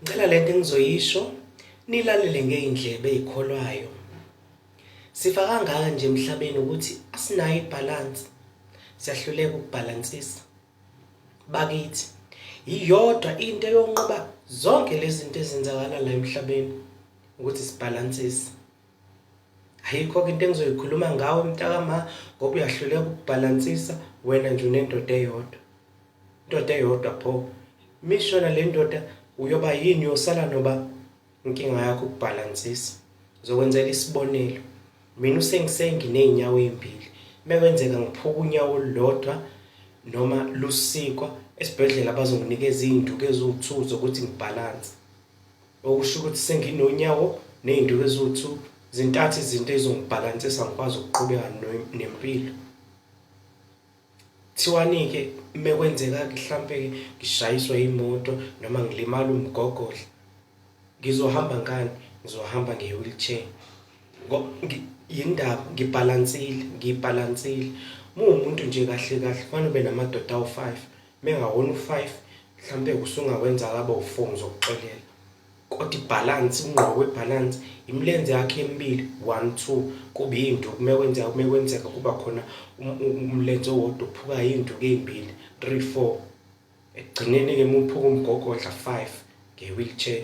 Ngicela lento engizoyisho nilalele ngeindlebe ezikholwayo. Sifa kangaka nje emhlabeni ukuthi asinayo ibalance. Siyahluleka ukubalansisa. Bakithi, iyodwa into eyonqoba zonke lezi zinto ezenzakala la emhlabeni ukuthi sibalansise. ayikho-ke into engizoyikhuluma ngawe mntakama ngoba uyahluleka ukubhalansisa wena nje unendoda eyodwa indoda eyodwa pho mishona le ndoda uyoba yini uyosala noba inkinga yakho ukubhalansisa ngizokwenzela isibonelo mina usengisenginey'nyawo ey'mbili uma kwenzeka ngiphuka unyawo olulodwa noma lusikwa esibhedlela bazonginikeza iy'nduku eziwuthuzo ukuthi ngibhalanse Okusho ukuthi senginonyawo ney'nduku eziwu-two zintathu izinto ezongibhalansisa ngikwazi ukuqhubeka nempilo. Kuthiwani-ke mekwenzeka-ke hlampe-ke ngishayiswe imoto noma ngilimale umgogodla, ngizohamba ngani? Ngizohamba nge-wheelchair yini ndaba ngibhalansile ngiyibhalansile. Uma uwumuntu nje kahle kahle kufanele ube namadoda awu-five Mengawona u-five mhlampe usungakwenza kaba u-four ngizokuxolela. Kodwa ibhalansi, ukungqoka kwebhalansi, imilenze yakho emibili, one, two, kuba iy'nduku uma kwenzeka, uma kwenzeka kuba khona umlenze owodwa ophukayo, iy'nduku ey'mbili, three, four. Ekugcineni-ke uma uphuka umgogodla, five, nge-wheelchair.